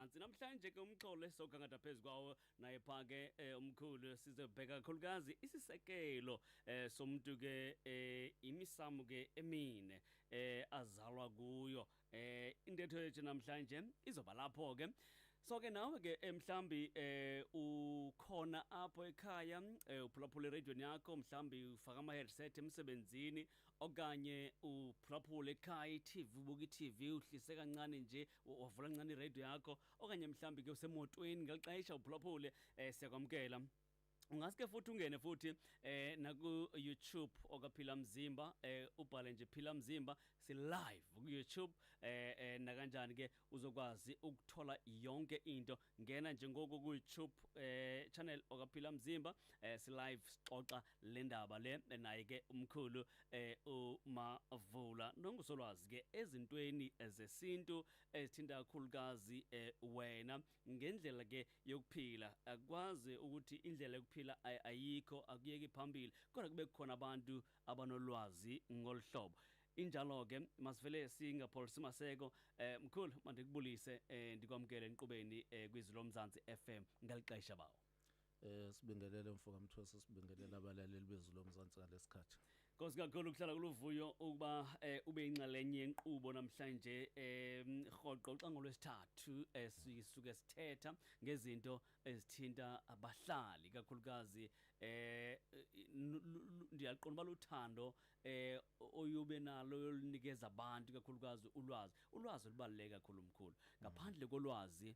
Ansi namhlanje ke umxholo esizogangatha phezu kwawo naye pha ke eh, umkhulu sizobheka kakhulukazi isisekelo eh, somuntu ke eh, imisamu ke emine eh, azalwa kuyo eh, intetho yethu namhlanje izoba lapho ke so ke nawe ke eh, mhlambi eh, ukhona apho ekhaya eh, uphulaphula iradion yakho mhlambi ufaka ama-headset emsebenzini okanye uphulaphula ekhaya itv ubuka itv uhlise kancane nje u- wavula ncane iradio yakho okanye mhlawumbi ke usemotweni ngeli xesha uphulaphule um siyakwamkela ungaske futhi ungene futhi eh naku-youtube okaphila mzimba eh ubhale nje phila mzimba si-live ku-youtube eh, eh nakanjani ke uzokwazi ukuthola yonke into ngena nje ngoku kuYouTube eh channel okaphila mzimba eh si live sixoxa le ndaba le naye ke umkhulu eh umavula nongusolwazi ke ezintweni zesintu ezithinta kakhulukazi eh wena ngendlela ke yokuphila akwazi ukuthi indlela yokuphila ayikho akuyeki phambili kodwa kube khona abantu abanolwazi ngolhlobo Injalo ke masivele singapholisi maseko eh mkhulu mandikubulise eh ndikwamkele enqubeni eh kwizwi lomzansi FM ngalixesha bawo Eh sibingelele mfo kaMthwesa sibingelele abalaleli bezwi lomzansi ngalesikhathi Nkosi kakhulu ukuhlala kuluvuyo ukuba eh, ube inxalenye yenqubo namhlanje eh rhoqo xa ngolwesithathu eh, sisuke sithetha ngezinto ezithinta abahlali kakhulukazi eh n- lu- lu- ndiyaqonda uba luthando eh oyube nalo yolinikeza abantu kakhulukazi ulwazi ulwazi olubaluleke kakhulu mkhulu ngaphandle kolwazi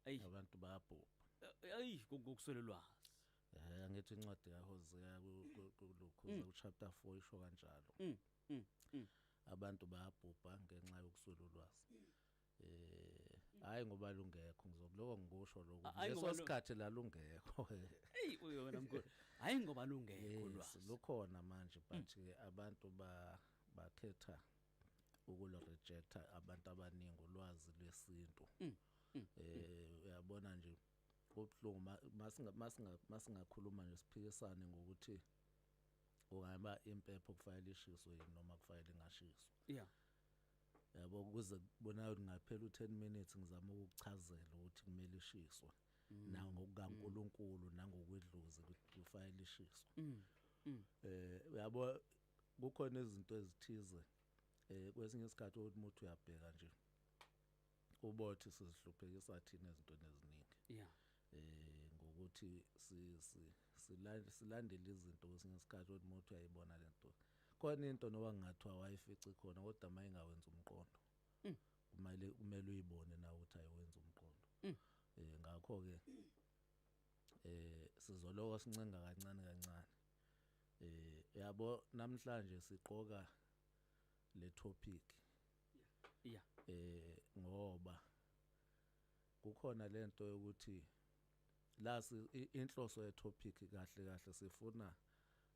ayi abantu bayabhubha eh, ayi ngokuswela ulwazi eh angithi incwadi kaHosea kulukhuza ku chapter 4 isho kanjalo mm, mm, mm. abantu bayabhubha ngenxa yokuswela ulwazi Eh, hayi ngoba lungekho ngizokuloko ngikusho lokho. A- hayi ngoba Leso lu- sikhathi la lungekho. Hey uyo wena mkhulu. Hayi ngoba lungekho Yes, lwazi. lukhona manje but ke abantu ba bakhetha ukulo rejecta abantu abaningi ulwazi lwesintu. Eh uyabona nje kubhlungu ma- masinga masinga masingakhuluma nje siphikisane ngokuthi ungaba impepho kufanele ishiswe yini noma kufanele ingashiswa. yeah yabo kuze kubonayo ngaphela u10 minutes ngizama ukuchazela ukuthi kumele ishiswe mm. na ngokukaNkuluNkulu mm. nangokwedlozi kufanele ishiswe mm. eh yabo kukhona izinto ezithize eh kwesinye isikhathi ukuthi umuntu uyabheka nje ubothi sizihluphekisa thina izinto eziningi yeah eh ngokuthi silandele izinto kwesinye isikhathi ukuthi umuntu uyayibona lento khona into noba ngathiwa wayifici khona kodwa uma ingawenza umqondo mm. kumele kumele uyibone nawe ukuthi ayiwenza umqondo mm. eh ngakho ke eh sizoloka sincenga kancane kancane eh yabo namhlanje siqoka le topic yeah eh ngoba kukhona lento yokuthi la inhloso ye topic kahle kahle sifuna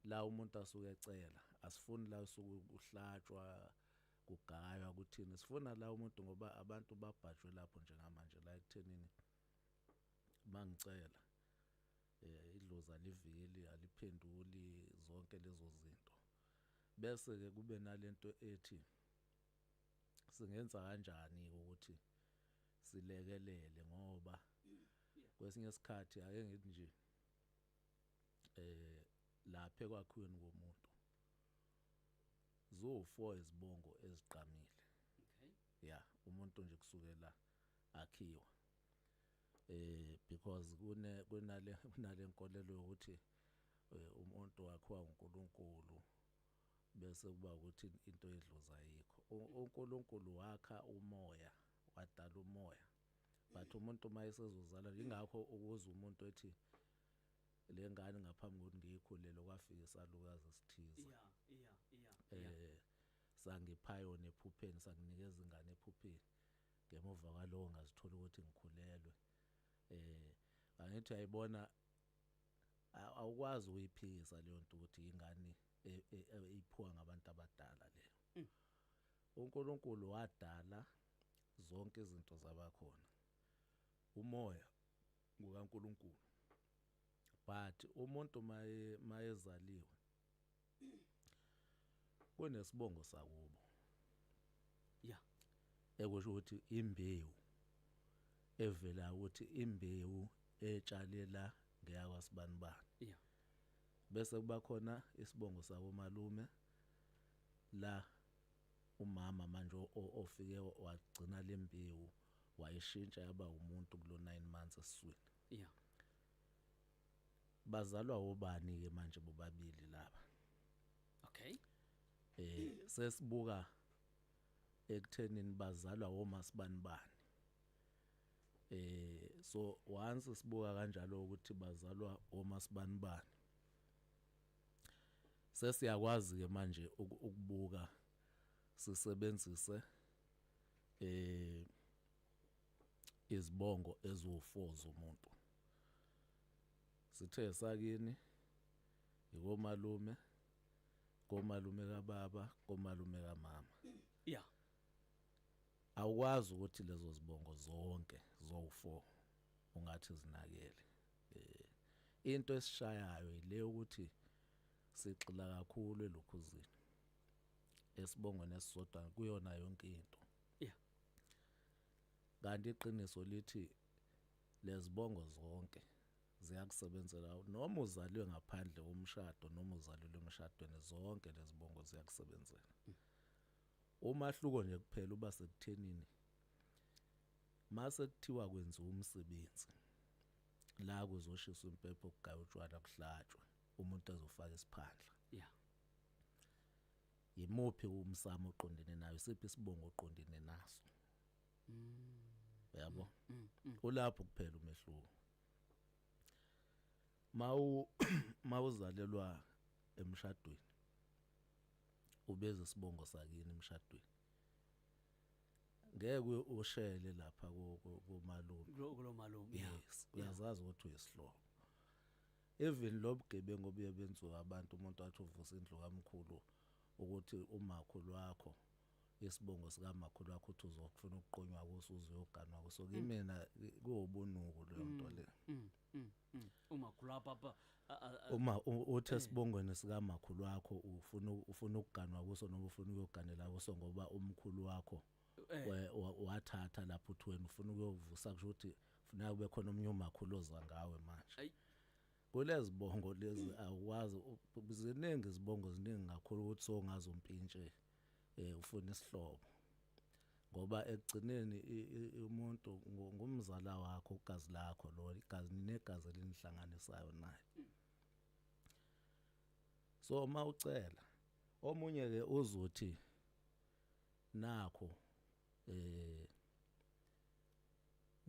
la umuntu asuke ecela asifuni la usuke kuhlatshwa kugaywa kuthini sifuna la umuntu ngoba abantu babhajwe lapho njengamanje la ekuthenini mangicela eh idlozi aliveli aliphenduli zonke lezo zinto bese ke kube nalento ethi singenza kanjani ukuthi silekelele ngoba kwesinye isikhathi ake ngithi nje eh lapha ekwakhiweni komuntu zofour izibongo eziqamile okay yeah umuntu nje kusukela akhiwa eh because kune kunale kunale nkolelo yokuthi eh, umuntu wakhiwa uNkulunkulu bese kuba ukuthi into edlozi ayikho uNkulunkulu wakha umoya wadala umoya but umuntu uma esezozala ingakho ukuza umuntu ethi le ngane ngaphambi kokuthi ngiyikhulele kwafika isalukazi esithize yeah yeah yeah eh sangiphayona ephupheni sanginikeza ingane ephupheni ngemuva kwalowo ngazithola ukuthi ngikhulelwe eh angithi ayibona awukwazi ukuyiphikisa leyo nto ukuthi ingane e, e, e, iphuwa ngabantu abadala leyo mm. uNkulunkulu wadala zonke izinto zabakhona umoya ngukaNkulunkulu but umuntu maye mayezaliwe kunesibongo sakubo ya ekusho ukuthi imbewu evela ukuthi imbewu etshalela ngeyakwaSibanibani ya bese kuba khona isibongo sakomalume la umama manje ofike wagcina lembewu wayishintsha yaba umuntu kulo 9 months esiswini ya bazalwa obani ke manje bobabili laba okay eh sesibuka ekuthenini bazalwa womasibani bani eh so once sibuka kanjalo ukuthi bazalwa womasibani bani sesiyakwazi ke manje ukubuka sisebenzise eh izibongo eziwu-4 zomuntu. Sithe sakini yikomalume, komalume kababa, komalume kamama. Ya. Awukwazi ukuthi lezo zibongo zonke zowu-4 ungathi zinakele. Eh into esishayayo ile ukuthi sigxila kakhulu elukhuzini. Esibongweni esisodwa kuyona yonke into. Yeah. Kanti iqiniso lithi lezibongo zonke ziyakusebenzela noma uzalwe ngaphandle komshado noma uzalwe emshadweni zonke lezibongo ziyakusebenzela. Mm. Umahluko nje kuphela uba sekuthenini mase kuthiwa kwenziwa umsebenzi la kuzoshiswa impepho kugaywa utshwala kuhlatshwe umuntu azofaka isiphandla yeah yimuphi umsamo oqondene nayo siphi isibongo oqondene naso mm. yabo mm, mm, mm. ulapho kuphela umehluko mawu mawuzalelwa emshadweni ubeze isibongo sakini emshadweni ngeke ushele lapha komalume kulomalume yes uyazazi ukuthi uyisihlobo Even lobugebengu obuye benziwe abantu umuntu athi uvusa indlu kamkhulu ukuthi umakhulu wakho isibongo sikamakhulu wakho uthi uzokufuna ukuqunywa kuso uze uyoganwa kuso kimina kuwubunuku leyo nto le Mm, mm, mm. umakhulu wakho papa a- a- a- uma u- uthe sibongweni sikamakhulu wakho ufuna ufuna ukuganwa kuso noma ufuna ukuyoganela kuso ngoba umkhulu wakho Eh. we- wa- wathatha lapho uthi wena ufuna ukuyovusa kusho ukuthi funeka kube khona omunye umakhulu oza ngawe manje Ayi. kulezi bongo lezi awukwazi u- u- ziningi izibongo ziningi kakhulu ukuthi songazi umpintshe eh ufuna isihlobo ngoba ekugcineni i- i- i- umuntu ngu- ngumzala wakho ugazi lakho lo igazi ninegazi elinihlanganisayo naye so uma ucela omunye ke uzothi Nakho eh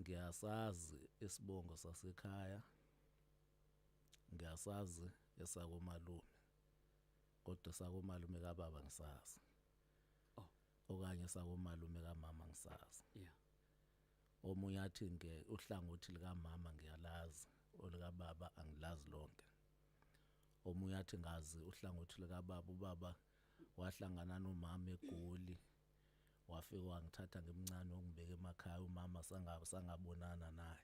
ngiyasazi isibongo sasekhaya ngiyasazi esakomalume kodwa sakomalume kababa ngisazi oh okanye sakomalume kamama ngisazi yeah omunye athi nge uhlangothi likamama ngiyalazi olikababa angilazi lonke omunye athi ngazi uhlangothi likababa ubaba wahlangana nomama egoli wafika wangithatha ngimncane wangibeka emakhaya umama sangaba sangabonana naye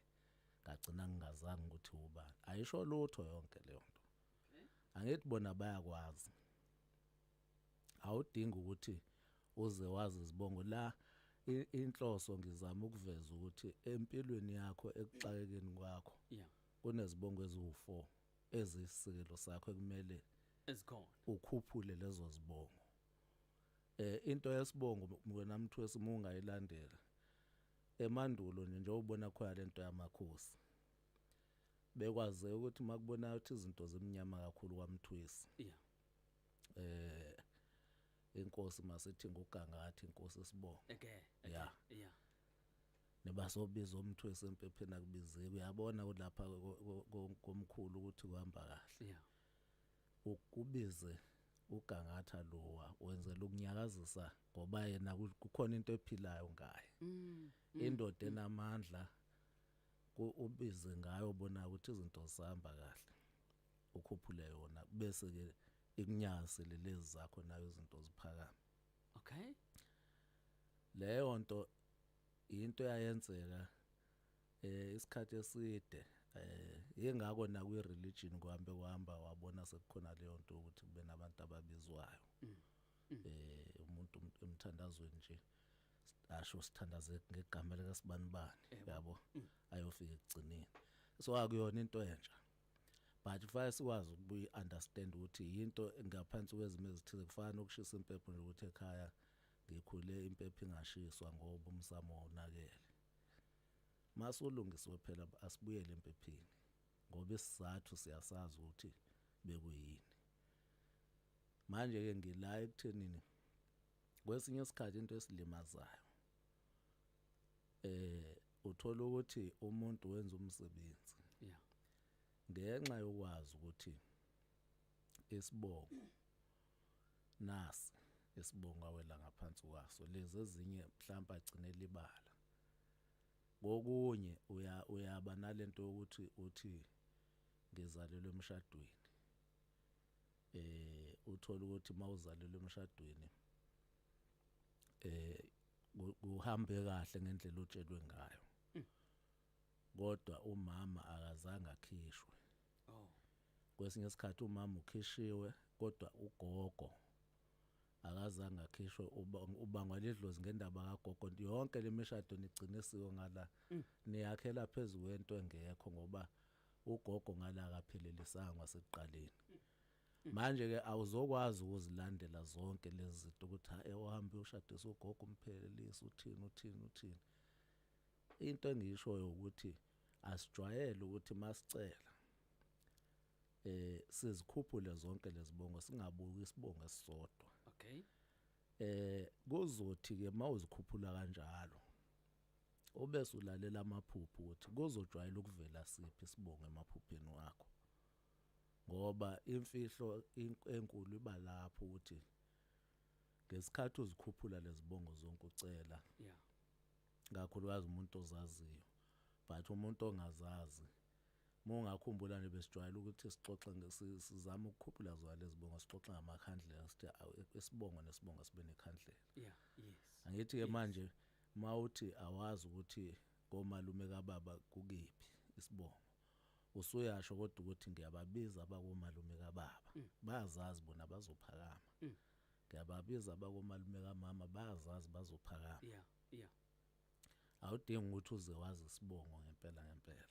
ngagcina ngingazange ukuthi ubani ayisho lutho yonke leyo nto angithi bona bayakwazi awudingi ukuthi uze wazi izibongo la inhloso ngizama ukuveza ukuthi empilweni yakho ekuxakekeni kwakho yeah kunezibongo eziwu4 eziyisikelo sakho ekumele ezikhona ukhuphule lezo zibongo eh into yesibongo wena mthwesi mungayilandela emandulo nje njengoba ubona khona lento yamakhosi bekwaze ukuthi makubona ukuthi izinto zimnyama kakhulu kwamthwesi yeah eh inkosi masithi ngugangathi inkosi sibongo okay yeah yeah nebasobiza umthu esempepheni akubizeki uyabona kulapha komkhulu ukuthi kuhamba kahle yeah. ukubize ugangatha lowa wenzela ukunyakazisa ngoba yena kukhona into ephilayo ngaye mm, mm, indoda mm. enamandla ubize ngayo bona ukuthi izinto zihamba kahle ukhuphule yona bese ke ikunyase lelezi zakho nayo izinto ziphakama okay leyo nto into yayenzeka eh isikhathi eside eh yengako na kwi religion kuhambe kuhamba wabona sekukhona leyo nto ukuthi kube nabantu ababizwayo mm. Mm. eh umuntu emthandazweni nje asho sithandaze ngegama lika sibanibani eh, yabo mm. ayofika ekugcineni so akuyona into entsha but kufanele sikwazi ukubuyi understand ukuthi yinto ngaphansi kwezimo ezithize kufana nokushisa impepho nje ukuthi ekhaya ngikhule impepho ingashiswa ngoba umsamo wonakele masolungisiwe phela asibuyele empephini ngoba isizathu siyasazi ukuthi bekuyini manje ke ngila ekuthenini kwesinye isikhathi into esilimazayo eh uthola ukuthi umuntu wenza umsebenzi yeah ngenxa yokwazi ukuthi isibongo nasi isibongo awela ngaphansi kwaso lezi ezinye mhlawumbe agcine libala kokunye uya uyaba nalento ukuthi uthi ngizalelwe emshadweni eh uthola ukuthi mawuzalelwe emshadweni eh kuhambe kahle ngendlela otshelwe ngayo hmm. kodwa umama akazange akhishwe oh kwesinye isikhathi umama ukhishiwe kodwa ugogo akazange akhishwe ubangwa ledlozi ngendaba kagogo yonke lemishado nigcine siko ngala mm. niyakhela phezulu kwento engekho ngoba ugogo ngale akaphelelisanga kwasekuqaleni manje ke awuzokwazi ukuzilandela zonke lezi zinto ukuthi hayi uhambe ushadisa ugogo umphelelise uthini uthini uthini into engishoyo ukuthi asijwayele ukuthi masicela eh sizikhuphule zonke lezibongo singabuki isibongo esisodwa okay eh kuzothi ke mawuzikhuphula kanjalo Ubese ulalela amaphupho ukuthi kuzojwayela ukuvela siphi isibongo emaphupheni wakho. Ngoba imfihlo enkulu iba lapho ukuthi ngesikhathi uzikhuphula lezibongo zonke ucela. Yeah. Kakhulukazi umuntu ozaziyo. But umuntu ongazazi mongakhumbula nje besijwayele ukuthi sixoxe sizama ukukhuphula zona lezibongo sixoxe ngamakhandlela sithi isibongo nesibongo sibe nekhandlela. Yeah, yes. Angithi ke manje yes. Uma uthi awazi ukuthi komalume kababa kukiphi isibongo, usuyasho kodwa ukuthi ngiyababiza abakomalume kababa, mm. bayazazi bona bazophakama. Mm. Ngiyababiza abakomalume kamama, bayazazi bazophakama. Yeah, yeah. Awudingi ukuthi uze wazi isibongo ngempela ngempela.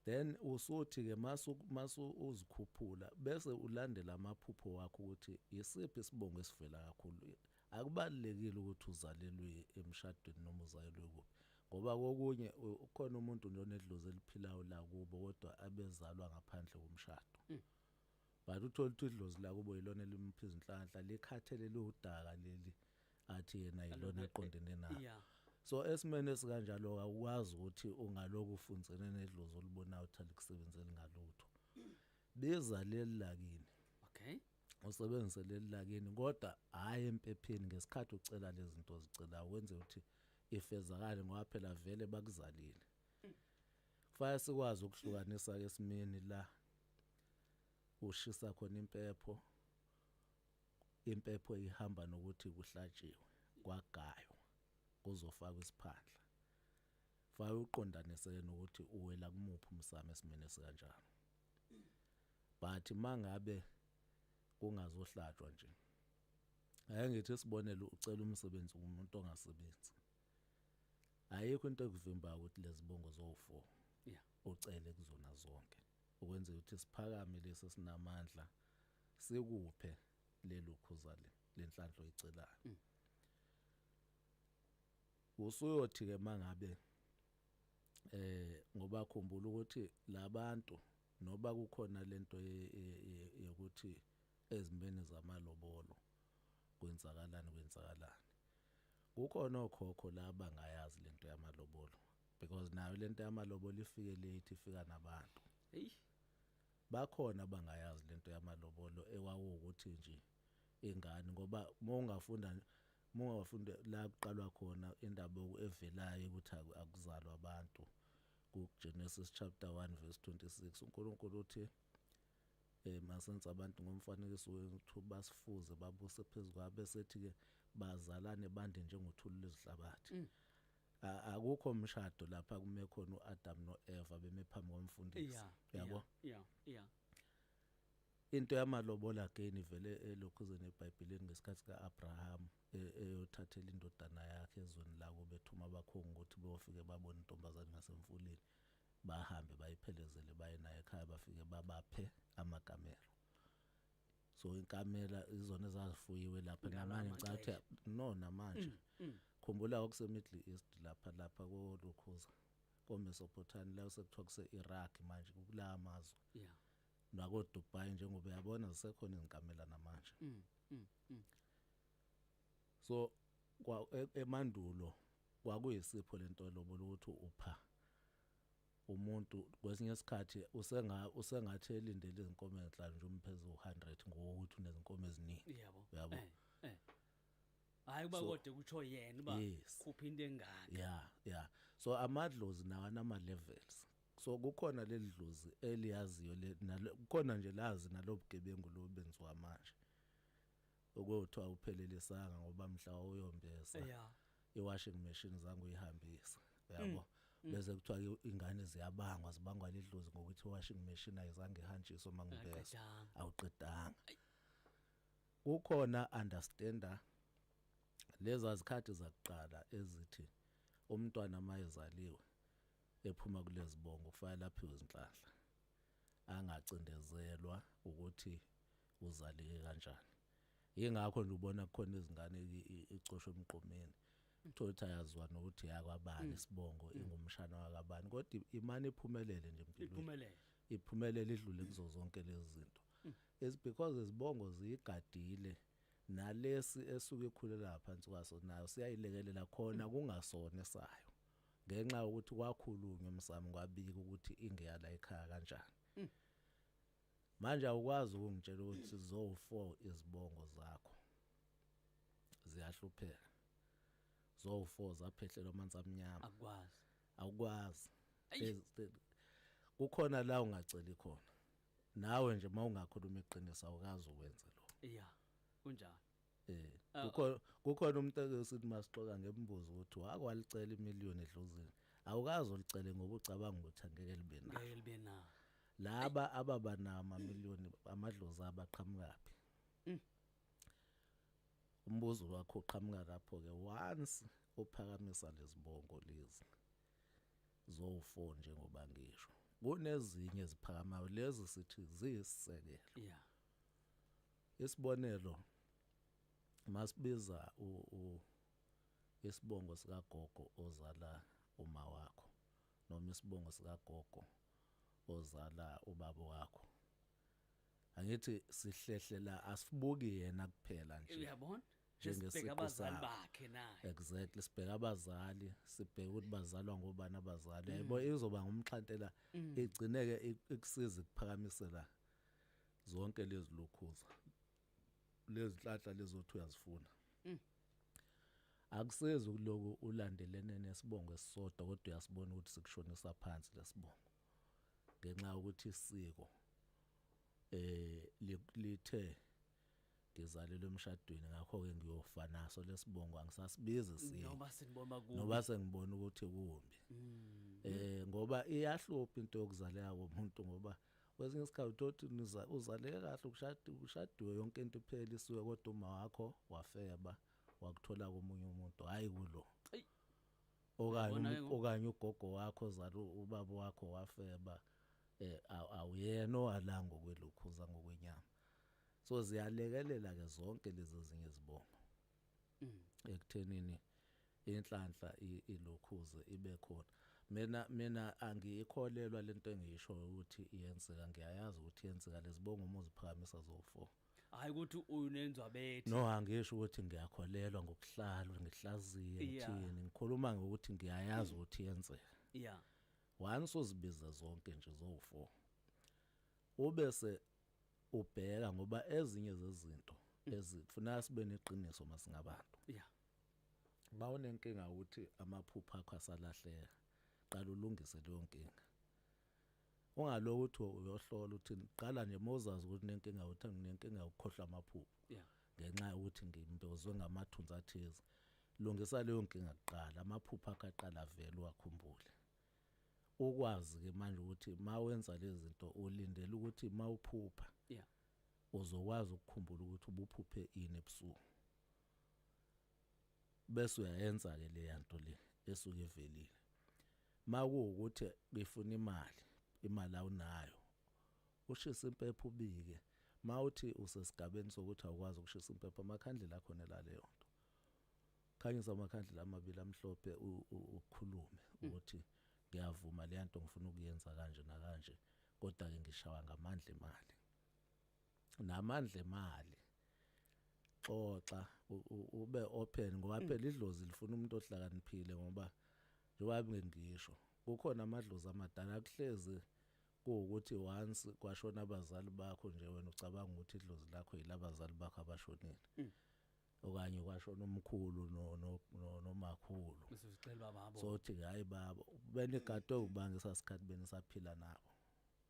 then usuthi ke masu masu uzikhuphula bese ulandela amaphupho wakho ukuthi yisiphi isibongo esivela kakhulu Akubalulekile ukuthi uzalelwe emshadweni noma uzalelwe kuphi ngoba kokunye ukhona umuntu nje onedlozi eliphilayo la kubo kodwa abezalwa ngaphandle komshado mm. but uthole ukuthi idlozi la kubo yilona elimphi izinhlanhla likhathele liwudaka leli athi yena yilona eqondene nayo yeah. so esimene esikanjalo akwazi ukuthi ungaloku ufundzene nedlozi olibonayo uthanda ukusebenzela ngalutho bezaleli lakini okay usebenzise leli lakini kodwa hhayi empepheni ngesikhathi ucela lezi zinto ozicelayo wenze ukuthi ifezakale ngoba phela vele bakuzalile kufanele sikwazi ukuhlukanisa ke esimeni la ushisa khona impepho impepho ihamba nokuthi kuhlatshiwe kwagayo kuzofakwa isiphandla fa uqondanise nokuthi uwela kumuphi umsamo esimene sikanjalo but mangabe kungazohlatshwa nje ake ngithi isibonelo ucela umsebenzi kumuntu ongasebenzi ayikho into ekuvimbayo ukuthi lezibongo zowu4 yeah ucele kuzona zonke ukwenzela ukuthi siphakame lesi sinamandla sikuphe lelo khuza le lenhlanhla oyicelayo mm. usuyothi ke mangabe eh ngoba khumbula ukuthi labantu noba kukhona lento yokuthi ezimeni zamalobolo kwenzakalani kwenzakalani kukhona okhokho la bangayazi lento yamalobolo because nayo lento yamalobolo ifike late ifika nabantu hey bakhona bangayazi lento yamalobolo ewawukuthi nje ingane ngoba mongafunda Munga wafunda la kuqalwa khona indaba evelayo ukuthi akuzalwa abantu kuGenesis chapter 1 verse 26 uNkulunkulu uthi eh masenza abantu ngomfanekiso wethu basifuze babuse phezukwa bese thi ke bazalane bande njengothulu lezihlabathi mm. akukho umshado lapha kume khona uAdam noEva beme phambi komfundisi yabo yeah yeah Into yamalobola again ivele elokhuzeni eBhayibhelini ngesikhathi ka-Abraham e-, eyothathela indodana yakhe ezweni lako bethuma abakhongi ukuthi beyofike babone intombazane ngasemfuleni bahambe bayiphelezele baye naye ekhaya bafike babaphe amakamelo so inkamela izona ezazifuyiwe lapha namanje ngicathe no namanje mm, mm. khumbula okusemiddle east lapha lapha kolukhuza komesopotamia la sekuthiwa kuse-iraq manje kulaa mazwe yeah. nakoDubai njengoba uyabona zisekhona izinkamela namanje mm, mm, mm. so kwa e, emandulo kwakuyisipho lento lobola ukuthi upha umuntu kwesinye isikhathi usenga usengathi elindele izinkomo ezinhlanu nje umphezulu 100 ngokuthi unezinkomo eziningi yabo yabo eh, eh. hayi uba kodwa kutsho yena uba khupha into engaka ya ya so amadlozi nawo anama-levels so kukhona leli dlozi eliyaziyo le nalo kukhona nje lazi nalobugebengu lobenziwa manje okwethu awuphelelisanga ngoba mhla uyombesa yeah. iwashing machine zangu uyihambisa yabo mm. bese kuthiwa ingane ziyabangwa zibangwa lidlozi ngokuthi washing machine ayizange ihanjiswe mangibesa awuqedanga kukhona understander leza zikhathi zakuqala ezithi umntwana mayezaliwe ephuma kulezibongo kufanele aphiwe izinhlanhla angacindezelwa ukuthi uzaleke kanjani yingakho nje ubona kukhona izingane icosho emqomeni uthola ukuthi ayaziwa nokuthi yakwabani mm. isibongo mm. ingumshana wakabani kodwa imane iphumelele nje empilweni iphumelele idlule kuzo zonke lezi zinto mm. is because izibongo ziyigadile nalesi esuke ikhulela phansi kwaso nayo siyayilekelela khona kungasona sayo ngenxa yokuthi kwakhulunywa emsamo kwabika ukuthi ingeya la ekhaya kanjani mm. manje awukwazi ukungitshela ukuthi zowu4 izibongo zakho ziyahlupheka zowu4 zaphehlelwa amanzi amnyama akwazi awukwazi kukhona la ungaceli khona nawe nje mawungakhuluma iqiniso awukazi ukwenze lo yeah kunjalo Eh, ah, kukhona kukhona umuntu akesithi masixoka ngembuzo ukuthi wakwalicela imillion edlozini. Awukazi ulicele ngoba ucabanga ukuthi angeke libe na. Ngeke libe na. Laba ababa nama million amadlozi abaqhamukaphi. Mm. Umbuzo wakho uqhamuka lapho ke once uphakamisa lezibongo lezi. Zofo njengoba ngisho. Kunezinye eziphakamayo lezi sithi ziyisekelo. Yeah. isibonelo masibiza u, u isibongo sikagogo ozala uma wakho noma isibongo sikagogo ozala ubaba wakho angithi sihlehlela asibuki yena kuphela nje uyabona njengesibheka abazali bakhe naye exactly sibheka abazali sibheka ukuthi bazalwa ngobani abazali mm. yebo izoba ngumxhantela mm. igcineke ikusiza ikuphakamisela zonke lezi lokhuza lezi nhlahla lezothi uyazifuna mm. akusezi ukuloku ulandelene nesibongo esisodwa kodwa uyasibona ukuthi sikushonisa phansi lesibongo ngenxa yokuthi isiko eh lithe ngizalelwe emshadweni ngakho-ke ngiyofa naso lesibongo angisasibizi sini noma sinibona kubi noba sengibona ukuthi kumbi mm. eh ngoba iyahlupha into yokuzaleka komuntu ngoba kwesinye isikhathi uthi uzaleke kahle ukushada ushadiwe yonke into iphela isuke kodwa uma wakho wafeba wakuthola komunye umuntu hayi kulo okanye okanye ugogo wakho zalo ubaba wakho wafeba eh awuyena owalanga okwelukhuza ngokwenyama so ziyalekelela ke zonke lezo zinye izibongo mm. ekuthenini inhlanhla ilokhuze ibe khona mina mina angiyikholelwa lento engiyisho ukuthi iyenzeka ngiyayazi ukuthi yenzeka lezibongo uma uziphakamisa zofo hayi ukuthi unenzwa bethi no angisho ukuthi ngiyakholelwa ngokuhlalwa ngihlaziye ngithini ngikhuluma ngokuthi ngiyayazi mm. ukuthi yenzeka yeah once uzibiza zonke nje zofo ubese ubheka ngoba ezinye zezinto mm. ezifuna sibe neqiniso masingabantu yeah bawunenkinga ukuthi amaphupha akho asalahleka qala ulungise leyo nkinga ungaloku ukuthi uyohlola ukuthi qala nje mozazi ukuthi nenkinga ukuthi nginenkinga ukukhohlwa amaphupho yeah ngenxa yokuthi ngimbozwe ngamathunzi athize lungisa leyo nkinga kuqala amaphupha akaqala vele wakhumbule ukwazi ke manje ukuthi mawenza lezi zinto ulindele ukuthi mawuphupha yeah uzokwazi ukukhumbula ukuthi ubuphuphe ini ebusuku bese uyayenza ke le yanto le esuke ivelile makuwukuthi ngifuna imali imali awunayo ushisa impepho ubike mawuthi usesigabeni sokuthi awukwazi ukushisa impepho amakhandlela khona la leyo nto khanyisa amakhandlela amabili amhlophe ukhulume mm. ukuthi ngiyavuma le nto ngifuna ukuyenza kanje nakanje kodwa ke ngishawa ngamandla emali namandla emali xoxa ube open ngoba mm. phela idlozi lifuna umuntu ohlakaniphile ngoba njengoba bengisho kukhona amadlozi amadala akuhlezi kuwukuthi once kwashona abazali bakho nje wena ucabanga ukuthi idlozi lakho yilabazali bakho abashonile mm. okanye kwashona umkhulu no no no nomakhulu usicela baba abo sothi hayi baba benegato ubanga sasikhathi benisaphila nabo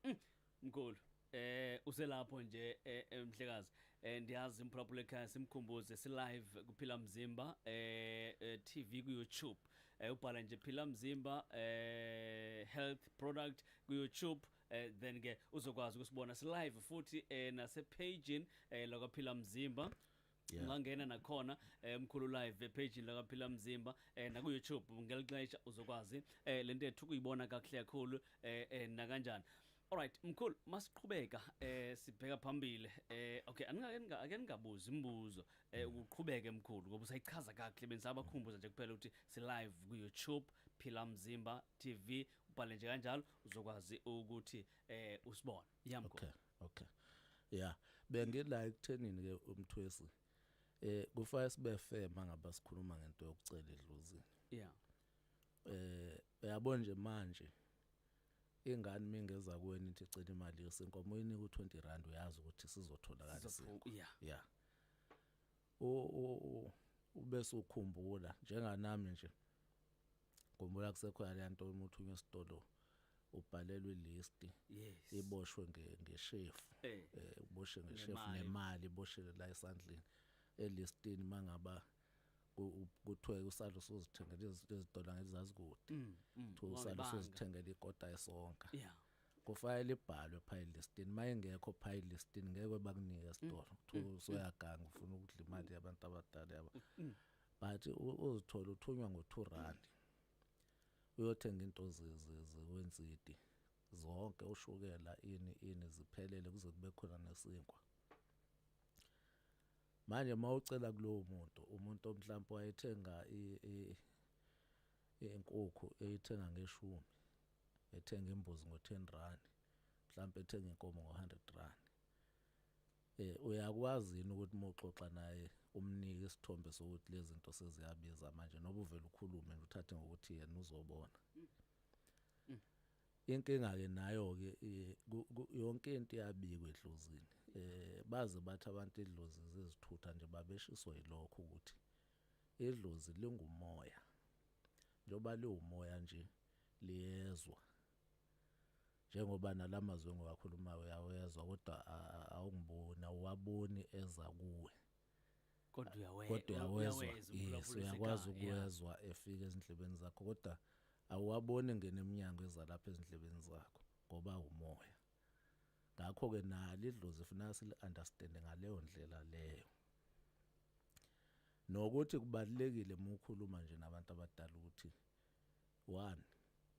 mm, mkhulu eh uselapho nje eh, eh, mhlekazi eh, ndiyazi imphulaphula ekhaya simkhumbuze si live kuphila mzimba eh TV ku YouTube eh ubhala nje phila mzimba eh health product ku YouTube eh then ke uzokwazi ukusibona si live futhi eh nase page eh lokwaphila mzimba Yeah. ungangena nakhona eh, mkhulu live epage lakaphila mzimba eh, naku YouTube ngelixesha uzokwazi eh, lento ethu kuyibona kakuhle kakhulu eh, eh, nakanjani Alright mkhulu masiqhubeka eh sibheka phambili eh okay aningake ninga- ake ningabuzi imibuzo eh ukuqhubeke mkhulu ngoba usayichaza kahle bensaba khumbuza nje kuphela ukuthi si live ku YouTube Phila Mzimba TV ubhale nje kanjalo uzokwazi ukuthi eh usibone yamkhulu Okay. okay yeah bengila ekuthenini ke umthwesi eh kufanele sibe fair mangaba sikhuluma ngento yokucela edluzini yeah eh uyabo nje manje ingane mingeza kuweni ithi cela imali yesinkomo uyinika u20 rand uyazi ukuthi sizotholakala isinkomo yeah yeah o o ubese ukhumbula njenganami nje Khumbula kusekhona le nto uma uthunywa esitolo ubhalelwa ilisti yes iboshwe nge- ngeshefu Eh. eh uboshe ngeshefu Nemali. nemali iboshele la esandleni elistini mangaba ku- kuthiwe usalo sozithengela izi- izitolo ngezazi kude Mm, mm, kuthiwe usalo wawubanga. sozithengela ikota esonka yeah kufanele ibhalwe pha elistini uma ingekho pha elistini ngeke bakunike esitolo kuthiwa usoyaganga ufuna ukudla imali yabantu abadala yabo but uzithola uthunywa ngo 2 rand uyothenga into zekwensidi zonke ushukela ini ini ziphelele kuze kube khona nesinkwa manje mawucela kulowo muntu umuntu omhlawumbe wayethenga inkukhu eyithenga ngeshumi ethenga imbuzi ngo 10 rand mhlawumbe ethenga inkomo ngo 100 rand Eh uyakwazi yini ukuthi moxoxa naye umnike isithombe sokuthi lezinto seziyabiza manje noba uvela ukhulume nje uthathe ngokuthi yena uzobona. Inkinga ke nayo ke eh, ku- ku- yonke into iyabikwa edlozini. Eh baze bathi abantu idlozi zizithutha nje babeshiso yilokho ukuthi idlozi lingumoya. Njoba liwumoya nje liyezwa njengoba nalamazwi engiwakhulumayo uyawezwa kodwa awungiboni awuwaboni eza kuwe kodwa uyawezwa kodwa uyawezwa yes uyakwazi ukuwezwa efika ezindlebeni zakho kodwa awuwaboni ngene eminyango ezalapha ezindlebeni zakho ngoba umoya ngakho ke nali idlozi funeka sili understand ngaleyo ndlela leyo nokuthi kubalekile uma ukhuluma nje nabantu abadala ukuthi one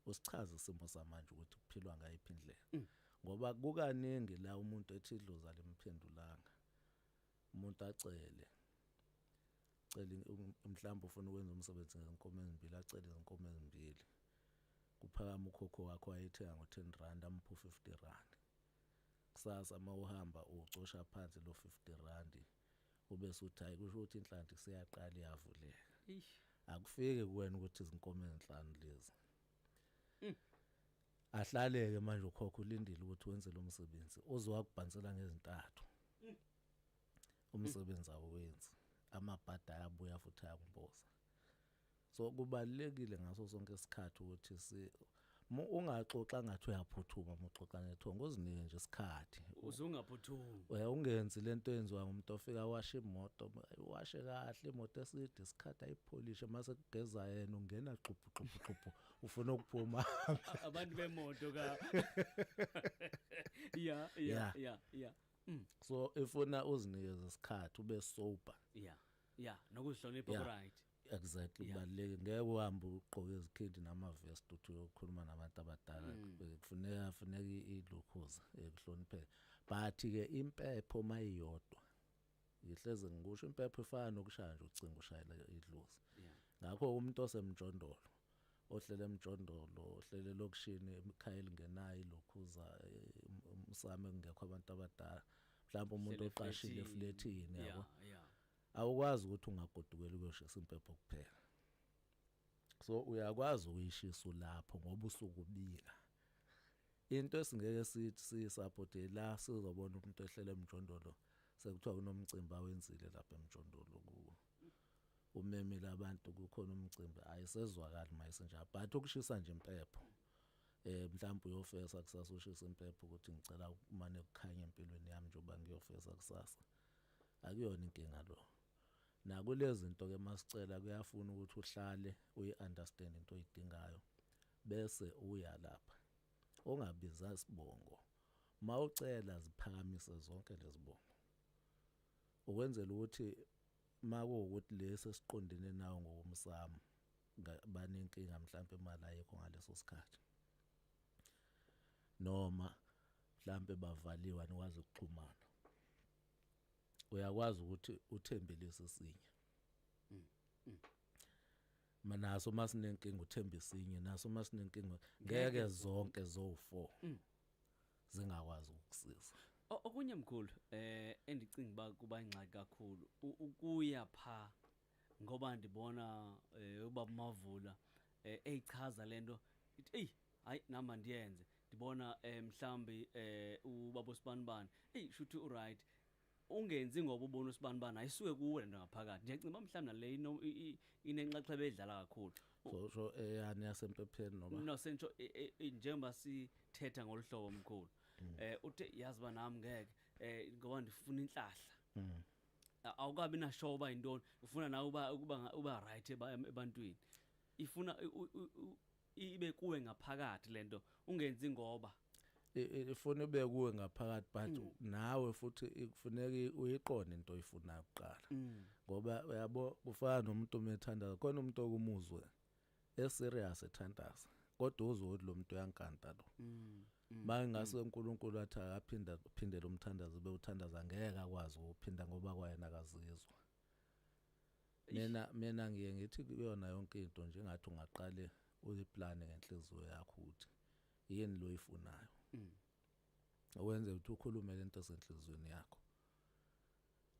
usichaze isimo samanje ukuthi kuphilwa ngayiphi indlela mm. ngoba kukaningi la umuntu ethi idlozi alimphendulanga umuntu acele cele um, mhlawumbe ufuna ukwenza umsebenzi ngenkomo ezimbili acele izinkomo ezimbili kuphakama ukhokho wakho ayethenga ngo-ten rand amuphu fifty rand kusasa uma uhamba ucosha phansi lo fifty randi ubese uthi hayi kusho ukuthi inhlanhla isiyaqala iyavuleka Eish. akufike kuwena ukuthi izinkomo ezinhlanu lezi Mm. ahlaleke manje ukhokha ulindile ukuthi wenze lo msebenzi uzowakubhansela ngezintathu Mm. umsebenzi awenzi amabhadi ayabuya futhi ayakumboza so kubalekile ngaso sonke isikhathi ukuthi si ungaxoxa ngathi uyaphuthuma uma uxoxa nethongo uzinike nje isikhathi uzungaphuthumi uya ungenzi lento enziwa umuntu ofika washe imoto washe kahle imoto eside isikhathi ayipholishe mase kugeza yena ungena xubhu xubhu xubhu ufuna ukuphuma abantu bemoto ka ya ya ya ya mm. so ifuna uzinikeze isikhathi ube sober yeah yeah nokuzihlonipha yeah. right exactly kubaluleke yeah. ngeke uhambe ugqoke izikhindi namavest uthi uyokhuluma nabantu abadala mm. Eh, kufuneka funeka ilukhuza ekuhloniphe eh, but ke impepho mayiyodwa ngihleze ngikusho impepho ifana nokushaya nje ucingo ushayela idlozi yeah. ngakho umuntu osemjondolo ohlele emjondolo ohlele elokishini ekhaya elingenayo ilokhuza eh, um- umsamo ekungekho abantu abadala mhlawumbe umuntu Uhlele oqashile eflethini. eflethini Yeah, yabo yeah. awukwazi ukuthi ungagodukela uyoshisa impepho kuphela so uyakwazi ukuyishisa ulapho ngoba usuke ubika into esingeke sithi siyisupport la sizobona umuntu ehlele emjondolo sekuthiwa kunomcimbi awenzile lapha emjondolo ku umemile abantu kukhona umcimbi ayisezwakali mayisenjalo but ukushisa nje impepho eh mhlawumbe uyofesa kusasa ushisa impepho ukuthi ngicela ukumane kukhanye empilweni yami njengoba ngiyofesa kusasa akuyona inkinga lo nakulezi zinto ke masicela kuyafuna ukuthi uhlale uyi-understand into oyidingayo bese uya lapha ongabiza isibongo mawucela ziphakamise zonke lezibongo Ukwenzela ukuthi makuwukuthi lesi esiqondene nawo ngokomsamo banenkinga mhlawumbe imali ayikho ngaleso sikhathi noma mhlawumbe bavaliwe anikwazi ukuxhumana uyakwazi ukuthi uthembe lesi sinye mm, mm. manaso masinenkinga uthembe sinye naso masinenkinga ngeke zonke zo4 mm. zingakwazi ukukusiza O- okunye mkhulu eh endicinga uba kuba ingxaki kakhulu u- ukuya pha ngoba ndibona eh, ubaba mavula eh, eyichaza le nto ithi eyi hayi nam andiyenze ndibona um mhlawumbi um ubaba osibanibani eyi shuthi urayithi ungenzi ngoba ubona usibanibani ayisuke kuwe lento ngaphakathi nje ngicimba mhlawumbe nale ino- i- i- inenxaxheba edlala kakhulu so so eyani yasempepheni noma no sentsho e- e- e- njengoba sithetha ngolu hlobo omkhulu eh uthe yazi ba nami ngeke eh ngoba ndifuna inhlahla Mm. A- awukabi na show ba intoni ufuna nawe uba ukuba nga- uba right eba- em- ebantwini ifuna u- u- u- ibe kuwe ngaphakathi lento ungenzi ngoba ifuna ibe kuwe ngaphakathi but mm. nawe futhi kufuneka uyiqonde into oyifuna kuqala mm. ngoba uyabo kufana nomuntu omethandaza khona umuntu okumuzwe eserious ethandaza kodwa uzodla umuntu uyankanta lo mm. Mm. bangase mm. uNkulunkulu athi akaphinda phindele umthandazo bewuthandaza ngeke akwazi ukuphinda ngoba kwayena akazizwa mina mina ngiye ngithi kuyona yonke into nje ngathi ungaqale uyiplane ngenhliziyo yakho ukuthi yini lo ifunayo mm. owenze ukuthi ukhulume lento esenhlizweni yakho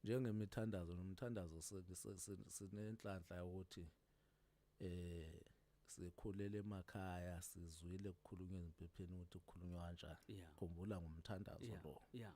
njengemithandazo nomthandazo sinenhlanhla yokuthi eh sikhulele emakhaya sizwile kukhulunywa ezimpepheni ukuthi kukhulunywa kanjani khumbula ngomthandazo lo yeah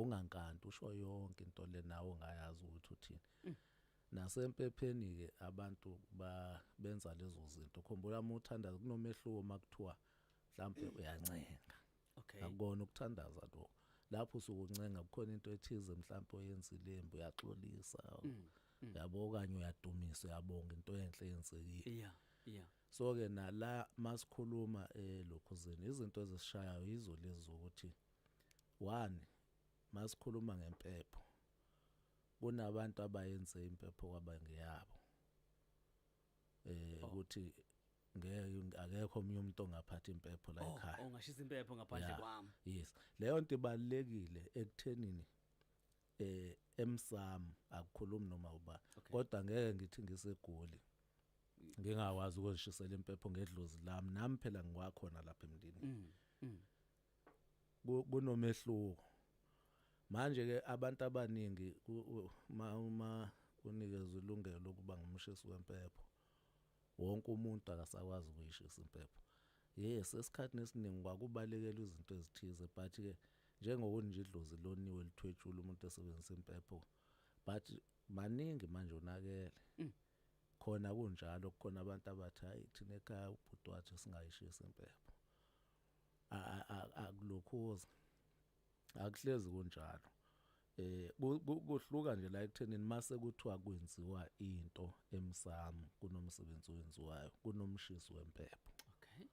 ungankanti usho yonke into le nawe ngayazi ukuthi uthini mm. nasempepheni ke abantu ba benza lezo zinto khumbula uma uthandaza kunomehluko makuthiwa mhlambe uyancenga okay akukona ukuthandaza lokho lapho usuke uncenga kukhona into ethize mhlawumbe oyenzile imbi uyaxolisa mm, mm. yabo okanye uyadumisa uyabonga into enhle eyenzekile yeah yeah so ke nala masikhuluma elokhuzini izinto ezisishayayo yizo lezi ukuthi One, masikhuluma ngempepho, kunabantu abayenze impepho kwaba ngeyabo. Eh oh. ukuthi ngeke akekho omunye umuntu ongaphatha impepho la oh, ekhaya. Oh, ongashisa impepho ngaphandle kwami. Yes. Leyo nto ibalekile ekuthenini eh emsamo akukhulumi noma uba kodwa ngeke ngithi ngisegoli ngingawazi ukuzishisela impepho ngedlozi lami nami phela ngiwakhona lapha emndini mm, mm. kunomehluko manje ke abantu abaningi uma uma unikezwe ilungelo lokuba ngumshisi wempepho wonke umuntu akasakwazi ukuyishisa impepho yes esikhathini esiningi kwakubalekelwa izinto ezithize but ke njengokunje idlozi loniwe lithwetshula umuntu esebenzisa impepho but maningi manje onakele mm. khona kunjalo kukhona abantu abathi hayi thina ekhaya ubhuti wathi singayishisa impepho akulokhuza akuhlezi kunjalo eh kuhluka nje la ekuthenini mase kuthiwa kwenziwa into emsamo kunomsebenzi owenziwayo kunomshisi wempepho okay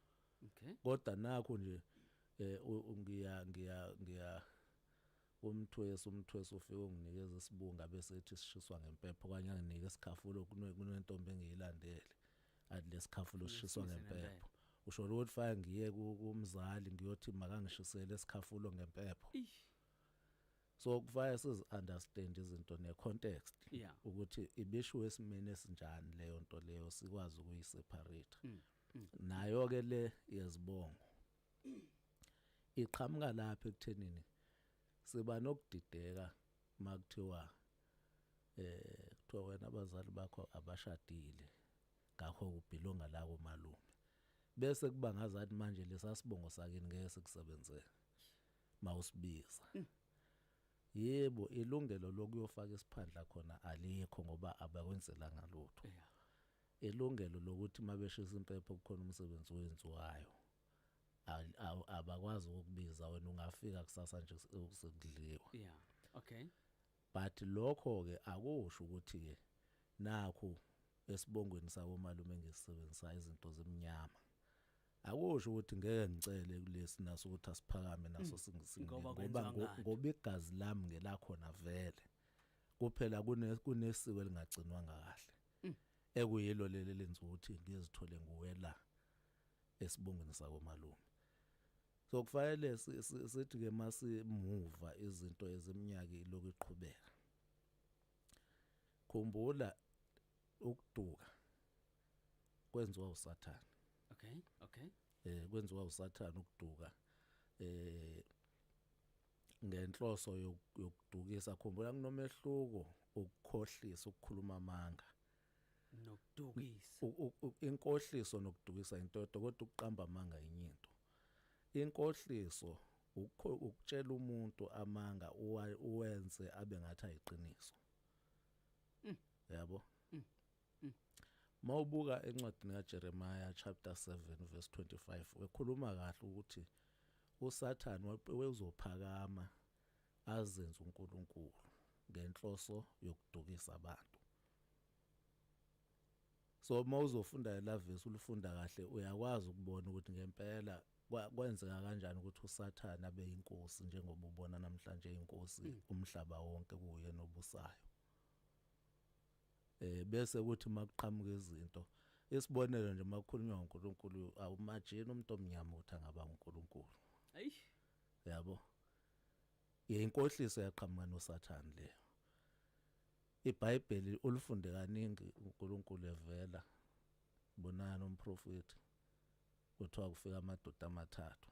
okay kodwa nakho nje eh ngiya ngiya ngiya Umthwesi, Umthwesi ufike unginikeza isibungu abese ethi sishiswa ngempepho okanye anginike isikhafulo kune- kunentombi engiyilandele athi lesikhafulo sishiswa Ngisize ngempepho. ngempepho. Usho ukuthi fake ngiye ku- kumzali ngiyothi makangishisele isikhafulo ngempepho. Eish. So kufanele sizi understand izinto ne context Yeah. ukuthi ibishiwe esimeni esinjani leyo nto leyo sikwazi ukuyi separate. Mm, Nayo ke le yezibongo iqhamuka lapha ekuthenini siba nokudideka makuthiwa eh kuthiwa wena abazali bakho abashadile ngakho ubhilonga la komalume bese kuba ngazathi manje lesasibongo sakini ngeke sikusebenzele mawusibiza mm. yebo ilungelo lokuyofaka isiphandla khona alikho ngoba abakwenzelanga lutho ilungelo lokuthi mabeshisa impepho kukhona umsebenzi owenziwayo Al- aw- abakwazi ukukubiza wena ungafika kusasa nje seku- sekudliwa yeah okay but lokho ke akusho ukuthi ke nakho esibongweni sabo malume ngisebenzisa izinto zemnyama akusho ukuthi ngeke ngicele kulesi naso ukuthi asiphakame naso singisi Mm. Ngoba kwenziwa ngoba ngo- ngani? ngoba igazi lami ngelakhona vele kuphela kune- kunesiko elingagcinwanga kahle Mm. ekuyilo leli lenza ukuthi ngizithole nguwe la esibongweni sakomalume. So kufanele sithi ke masimuva izinto eziminyaka ilokhu iqhubeka. Khumbula ukuduka kwenziwa uSathane. Okay, okay. Eh kwenziwa uSathane ukuduka. Eh ngenhloso yokudukisa khumbula kunomehluko ukukhohlisa ukukhuluma amanga nokudukisa inkohliso nokudukisa into kodwa ukuqamba amanga enye into inkohliso ukutshela umuntu amanga uwenze abe ngathi ayiqiniso mm. yabo mm. Mm. mawubuka encwadini kaJeremiah chapter 7 verse 25 wekhuluma kahle ukuthi uSathane wezophakama azenze uNkulunkulu ngenhloso yokudukisa abantu So uma uzofunda elavesi ulifunda kahle uyakwazi ukubona ukuthi ngempela kwenzeka kanjani ukuthi uSathane abe inkosi njengoba ubona namhlanje inkosi mm. umhlaba wonke kuye nobusayo. Eh bese ukuthi makuqhamuka izinto isibonelo nje makukhulunywa ngoNkulunkulu awumajini umuntu omnyama uthi angaba uNkulunkulu. Ayi yabo. Yinkohliso yaqhamuka noSathane le. IBhayibheli ulifunde kaningi uNkulunkulu evela. Bonani umprofeti kuthiwa kufika amadoda amathathu.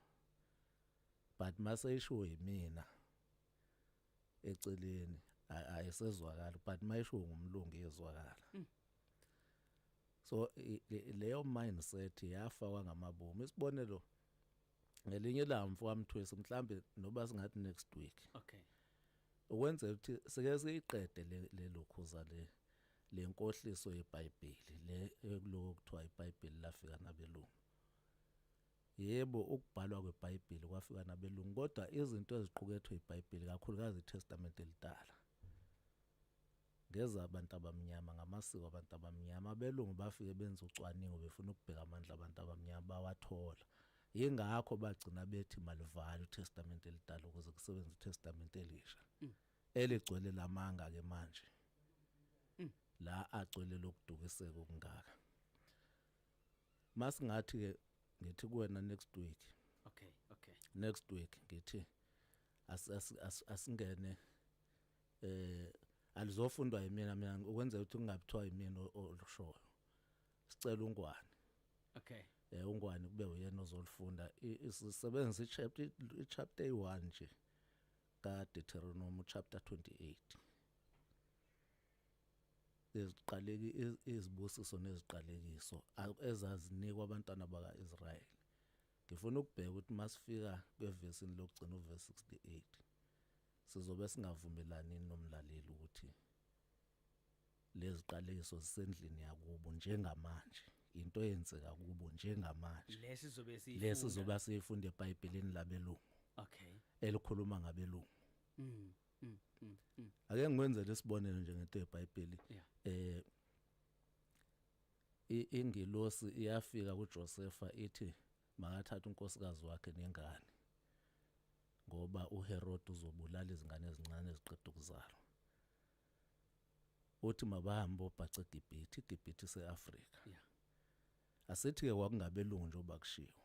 But mase ishiwo yimina eceleni ayisezwakala but mayishiwo ngumlungu iyezwakala. Mm. So leyo mindset yafa kwangamabomu. Isibonelo ngelinye ilanga mfokamthwesi mhlambe noba singathi next week okay ukwenza ukuthi sike siyiqede le lokhuza le lenkohliso yeBhayibheli le ekuloko kuthiwa iBhayibheli lafika nabelungu yebo ukubhalwa kweBhayibheli kwafika nabelungu kodwa izinto eziqukethwe iBhayibheli kakhulukazi iTestament elidala Ngeza abantu abamnyama, ngamasiko abantu abamnyama. Abelungu bafike benza ucwaningo befuna ukubheka amandla abantu abamnyama, bawathola. Yingakho bagcina bethi malivale uTestamente elidala ukuze kusebenze uTestamente elisha. Mm. Eligcwele lamanga ke manje. Mm. La agcwele lokudukiseka okungaka. Masingathi ke ngithi kuwena next week. Okay, okay. Next week ngithi asingene as, as, as eh alizofundwa yimina mina ukwenza ukuthi kungabithiwa yimina olushoyo sicela ungwane okay eh ungwane kube uyena ozolifunda isisebenzisa ichapter ichapter 1 nje ka Deuteronomy chapter 28 eziqaleki izibusiso neziqalekiso ezazinikwa abantwana bakaIsrael ngifuna ukubheka ukuthi masifika kwevesini lokugcina uverse 68 Sizobe singavumelani nomlaleli ukuthi leziqalekiso zisendlini yakubo njengamanje into eyenzeka kubo njengamanje lesi zobe siyifunda lesi zobe siyifunda eBhayibhelini labelungu okay elikhuluma ngabelungu mm, mm, mm, mm. ake ngikwenze lesibonelo nje ngento yeBhayibheli yeah. eh ingilosi iyafika kuJosefa ithi Makathathe unkosikazi wakhe nengane, ngoba uHerode uzobulala izingane ezincane eziqeda ukuzalwa. Uthi mabahambe obhaca eGibhithe, iGibhithe ise-Afrika. Yeah. Asithi-ke kwakungabelungu njengoba kushiwo.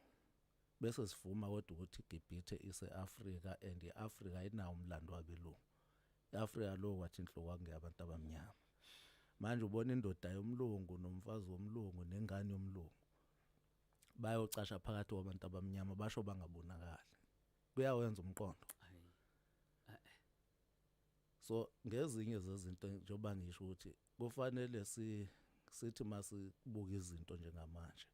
Bese sivuma kodwa ukuthi iGibhithe ise-Afrika and i-Afrika ayinawo umlando wabelungu. I-Afrika lo wathi inhloko kwakungeyabantu abamnyama. Manje ubona indoda yomlungu nomfazi womlungu nengane yomlungu. bayocasha phakathi kwabantu abamnyama basho bangabonakali kuyawenza umqondo so ngezinye zezinto njengoba ngisho ukuthi kufanele si sithi masibuka izinto njengamanje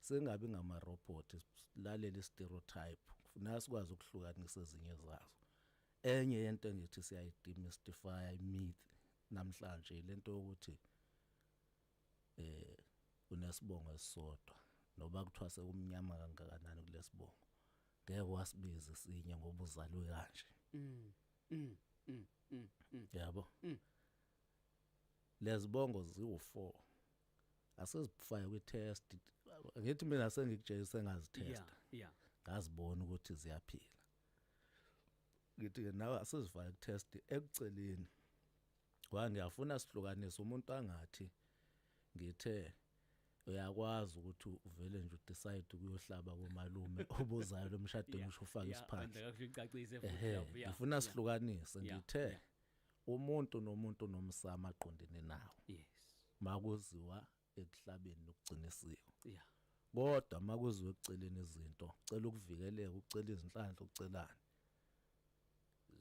singabi ngama robot silalele stereotype kufuneka sikwazi ukuhlukanisa ezinye zazo enye yento engithi siyayidemystify myth namhlanje lento yokuthi eh unesibongo esisodwa noba kuthiwa sekumnyama kangakanani kulesibongo ngeke wasibize sinye ngoba uzalwe kanje mm, mm, mm, mm, mm. yabo mm. lezibongo ziwu4 asizifaya kwi test ngithi mina sengikujeyise ngazitesta yeah, yeah. ngazibona ukuthi ziyaphila ngithi nawe asizifaya ku test ekuceleni Wa ngiyafuna sihlukanise umuntu angathi ngithe uyakwazi ukuthi uvele nje udecide ukuyohlaba komalume obuzayo lomshadweni usho ufaka isiphandla ngifuna sihlukanise ngithe umuntu nomuntu nomsama aqondene nawo yes makuziwa ekuhlabeni nokugcina isiko yeah kodwa makuziwe kuceleni izinto cela ukuvikeleka ukucela izinhlanhla ukucelani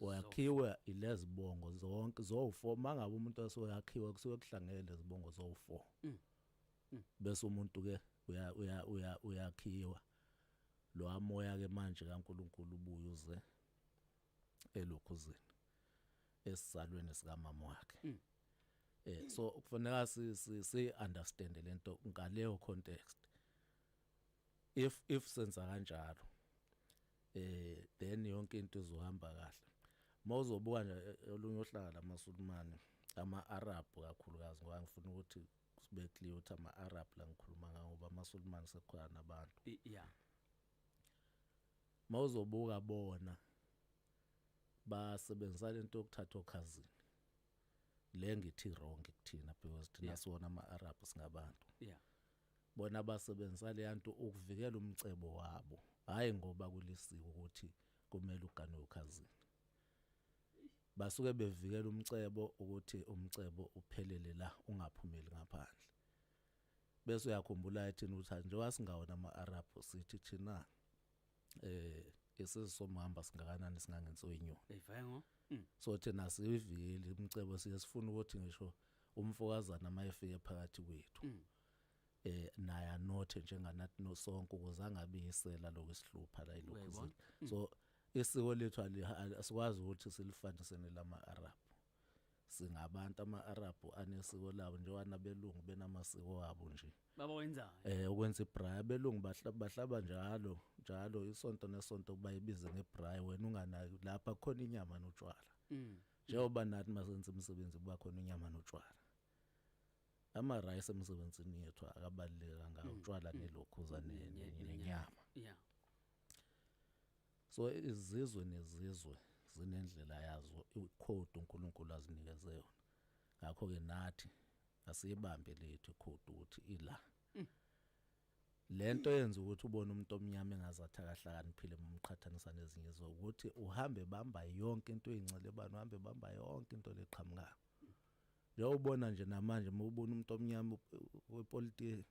wakhiwe ilezibongo zonke zowu4 mangabe umuntu asoyakhiwa kusuke kuhlangene lezibongo zowu4 mm. mm. bese umuntu ke uya uya uya uyakhiwa lo amoya ke manje kaNkuluNkulu ubuye uze elokhuzini esisalweni sikamama wakhe mm. eh so kufanele si si, si understand lento ngaleyo context if if senza kanjalo eh then yonke into izohamba kahle mawuzobuka nje eh, olunye ohlaka lamasulumane ama Arab kakhulukazi ngoba ngifuna ukuthi sibe clear ukuthi ama Arab la ngikhuluma ngawo ngoba amasulumane sekukhona abantu yeah Mawuzobuka bona basebenzisa lento yokuthatha okhazini. Le ngithi wrong kuthina because thina yeah. siwona ama Arab singabantu. Yeah. Bona basebenzisa le yanto ukuvikela umcebo wabo. Hayi ngoba kulisiwe ukuthi kumele uganwe ukhazini. Basuke bevikela umcebo ukuthi umcebo uphelele la ungaphumeli ngaphandle. bese uyakhumbula ethini ukuthi njengoba singawona ama-arab sithi thina eh esizisomhamba singakanani singangenso inyoni eyivayengo mm. so thina sivile umcebo siye sifuna ukuthi ngisho umfokazana uma efike phakathi kwethu mm. eh naye anothe njenganathi nosonke ukuze angabiyisela lokho esihlupha la ilokhu mm. so isiko lethu asikwazi ukuthi silifanisene lama-arab singabantu ama-arabhu anesiko labo njengoba nabelungu benamasiko wabo nje baba wenzayo eh ukwenza ibrayi abelungu bahlaba njalo njalo isonto nesonto kuba ibize ngebrayi wena unganaki lapha khona inyama notshwala mm. njengoba nathi masenza imisebenzi kuba khona inyama notshwala ama rice emsebenzini yethu akabaluleka ngawo mm. utshwala mm. nelokhuza nenyama yeah So izizwe nezizwe zinendlela yazo ikhodi uNkulunkulu azinikeze yona. Ngakho ke nathi asiyibambe lethu ikhodi ukuthi ila. Mm. Lento yenza ukuthi ubone umuntu omnyama engazathi akahlakaniphile umqhathanisa nezinye izwe ukuthi uhambe bamba yonke into eyincilebana uhambe bamba yonke into leqhamukayo. Njengoba ubona nje namanje uma ubona umuntu omnyama wepolitiki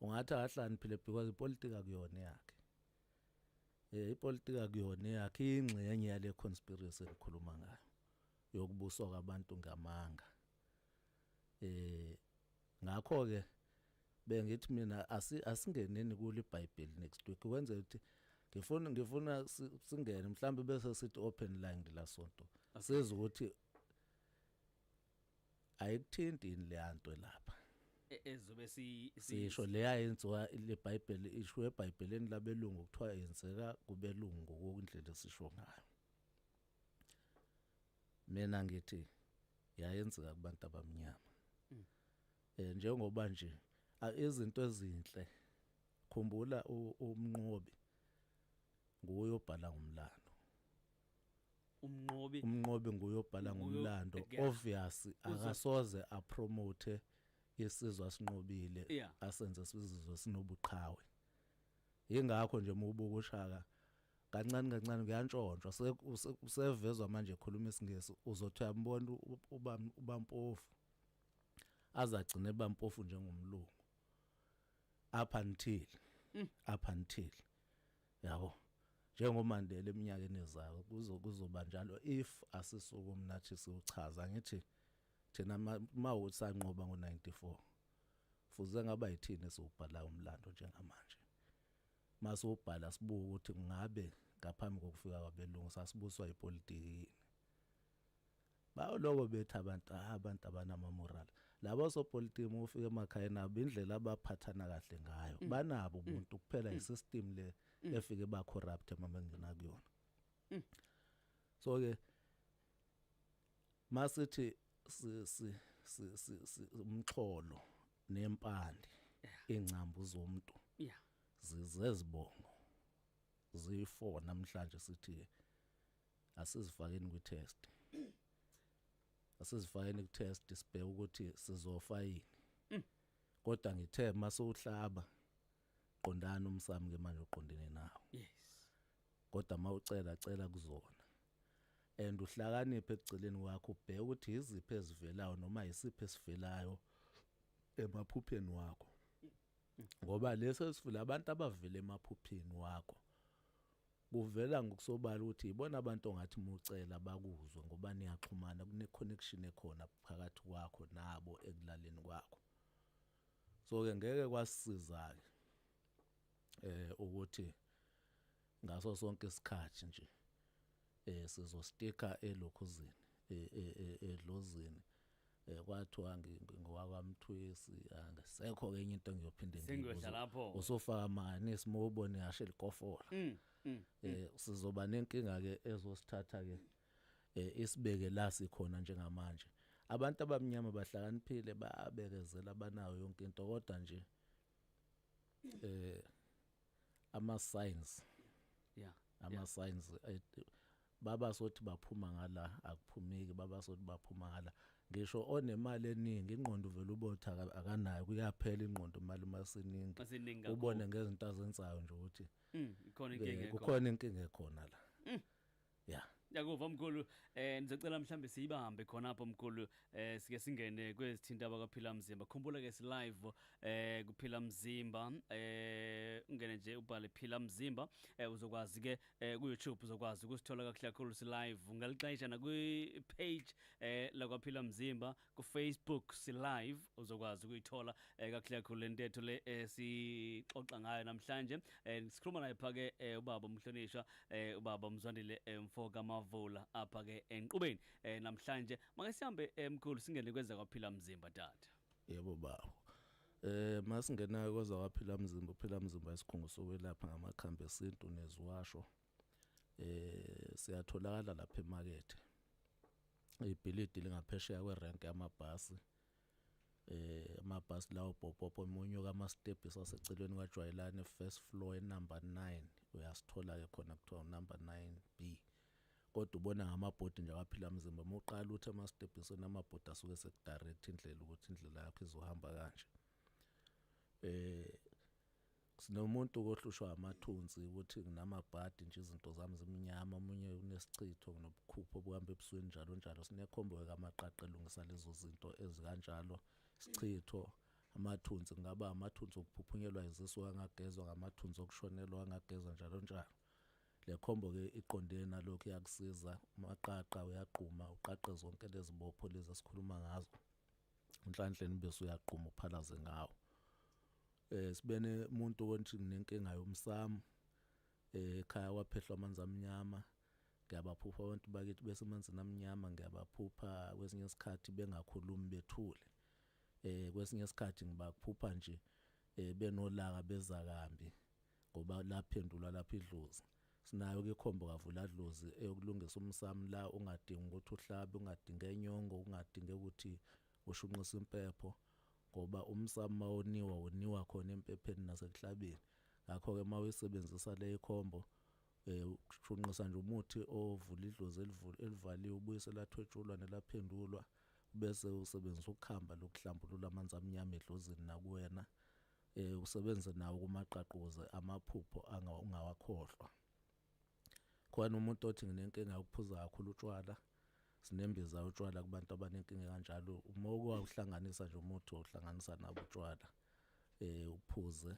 ungathi akahlani phile because ipolitika kuyona yakhe eh ipolitika kuyona yakhe ingxenye yale conspiracy ekhuluma ngayo yokubuswa kwabantu ngamanga eh ngakho ke bengithi mina asingeneni kule bible next week kwenza ukuthi ngifuna ngifuna singene mhlawumbe bese sithi open line la sonto siza ukuthi ayikuthinti yini leya nto lapha E- ezobe si si- sisho leya yenziwa lebhayibheli isho ebhayibhelini labelungu kuthiwa yenzeka kubelungu ngokundlela esisho ngayo mina ngithi yayenzeka kubantu abamnyama eh njengoba nje a- izinto ezinhle khumbula u- umnqobi nguye obhala ngomlando umnqobi umnqobi nguye obhala ngomlando obvious akasoze apromote isizwe asinqobile asenze sizizwe sinobuqhawe ingakho nje uma ubuka ushaka kancane kancane kuyantshontshwa usevezwa manje ekhuluma isingisi uzothi uyambona ubampofu azagcine bampofu njengomlungu up until mm. up until yabo njengoMandela eminyakeni ezayo kuzo kuzoba njalo if asisuku mnathi siwuchaza ngithi thina uma ukuthi sanqoba ngo-94 fuze ngaba yithini esiwubhalayo umlando njengamanje mase ubhala sibuka ukuthi ngabe ngaphambi kokufika kwabelungu sasibuswa ipolitiki yini bayoloko bethi abantu ah, abantu abanama moral labo sopolitiki uma ufika emakhaya nabo indlela abaphathana kahle ngayo mm. banabo mm. umuntu kuphela mm. isystem le efike ba corrupt mama ngina kuyona so ke masithi si si si umxholo nempande ingcambu zomuntu zizezibongo zifo namhlanje sithi asizifakeni kwi test asizifakeni ku test sibheke ukuthi sizofa yini mm. kodwa ngithe mase uhlaba qondana umsamo ke manje uqondene nawo yes kodwa mawucela cela kuzona and uhlakaniphe ekugcileni wakho ubheke ukuthi iziphi ezivelayo noma isiphi esivelayo emaphupheni wakho ngoba lesi esivile abantu abavile emaphupheni wakho Kuvela ngokusobala ukuthi yibona abantu ongathi mucela bakuzwe ngoba niyaxhumana kune-connection ekhona phakathi kwakho nabo ekulaleni kwakho. So-ke ngeke kwasisiza-ke eh ukuthi ngaso sonke isikhathi nje eh sizostika elokhuzini edlozini eh kwathiwa ngingowakwaMthwesi angisekho ke enye into engiyophinde ngibuze lapho usofaka mani isimobone yashe likofola mm, mm, eh mm. sizoba nenkinga ke ezosithatha ke eh, isibeke la sikhona njengamanje abantu abamnyama bahlakaniphile babekezela banayo yonke into kodwa nje eh ama signs yeah ama signs eh, baba sothi baphuma ngala akuphumeki baba sothi baphuma ngala ngisho onemali eningi ingqondo vele ubotha akanayo kuyaphela ingqondo imali masiningi ubone ngezinto azenzayo nje ukuthi mm, khona inkinga khona kukhona inkinga khona la mm. ya yakuva mkhulu eh ndizocela mhlambe siyibambe khona apho mkhulu eh sike singene kwezithinta abakaphila mzimba khumbula ke si live eh kuphila mzimba eh ungene nje ubhale phila mzimba eh uzokwazi ke eh ku YouTube uzokwazi ukusithola kakhulu kakhulu si live ungalixesha na kwi page eh lakwaphila mzimba kufacebook silive uzokwazi ukuyithola eh, kakuhle kakhulu le ntetho le eh, sixoxa ngayo namhlanje eh, sikhuluma naye phake eh, ubaba umhlonishwa eh, ubaba mzwandile eh, mfo kamavula apha ke enqubeni eh, namhlanje make sihambe emkhulu eh, singene kweza kwaphila mzimba tata yebo baba Eh masingenayo kwaza waphila mzimba phila mzimba isikhungo sokwelapha ngamakhambi esintu neziwasho eh siyatholakala lapha emakethe ibhilidi lingaphesheya kwerenke yamabhasi eh amabhasi lawo popopo omunye kama steps asecelweni kwajwayelane first floor enumber 9 uyasithola ke khona kuthiwa number 9B kodwa ubona ngamabhodi nje awaphila mzimba uma uqala uthi amastebhisweni amabhodi asuke sekudirect indlela ukuthi indlela yakho izohamba kanje eh sinomuntu kohlushwa amathunzi ukuthi nginamabhadi nje izinto zami zimnyama omunye unesichitho nginobukhupho obuhamba ebusweni njalo njalo sinekhombo kamaqaqa elungisa lezo zinto ezikanjalo sichitho amathunzi kungaba amathunzi okuphuphunyelwa izisu angagezwa ngamathunzi okushonelwa angagezwa njalo njalo le khombo ke iqondene nalokho iyakusiza maqaqa uyaqhuma uqaqe zonke lezibopho lezi esikhuluma ngazo unhlanhla nibese uyaqhuma uphalaze ngawo eh sibene umuntu onthi nginenkinga yomsamo eh ekhaya kwaphehlwa amanzi amnyama ngiyabaphupha abantu bakithi bese amanzini amnyama ngiyabaphupha kwesinye isikhathi bengakhulumi bethule eh kwesinye isikhathi ngibaphupha nje eh benolaka bezakambi ngoba laphendulwa lapha idlozi sinayo ke ikhombo kavula dlozi eyokulungisa umsamo la ungadingi ukuthi uhlabe ungadingi enyongo ungadingi ukuthi ushunqise impepho ngoba umsamo mawoniwa woniwa khona empepheni nasekuhlabeni ngakho ke mawuyisebenzisa le ikhombo eh ushunqisa nje umuthi ovula idlozi elivaliwe ubuyise lathwetshulwa nelaphendulwa bese usebenzisa ukukhamba lokuhlambulula amanzi amnyama edlozini nakuwena eh usebenze nawo kumaqaquze amaphupho angawakhohlwa khona umuntu othi nginenkinga yokuphuza kakhulu utshwala sinembiza utshwala kubantu abanenkinga kanjalo uma ukwahlanganisa nje umuntu ohlanganisa nabo utshwala eh uphuze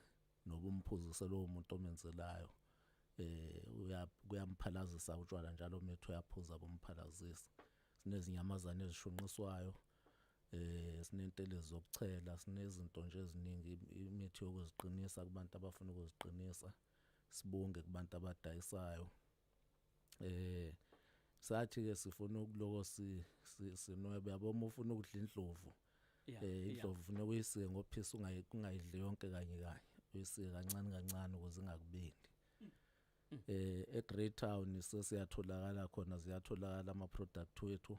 noba umphuzise lowo muntu omenzelayo eh uyamphalazisa utshwala njalo umethu uyaphuza bomphalazisa sinezinyamazane ezishunqiswayo eh sinentele zokuchela sinezinto nje eziningi imithi yokuziqinisa kubantu abafuna ukuziqinisa sibunge kubantu abadayisayo eh sathi ke sifuna ukuloko si sinwebe yabo uma ufuna ukudla indlovu eh indlovu ufuna uyisike ngophisa ungayi kungayidli yonke kanye kanye uyisike kancane kancane ukuze ingakubindi eh eGreytown sesiyatholakala khona ziyatholakala ama product wethu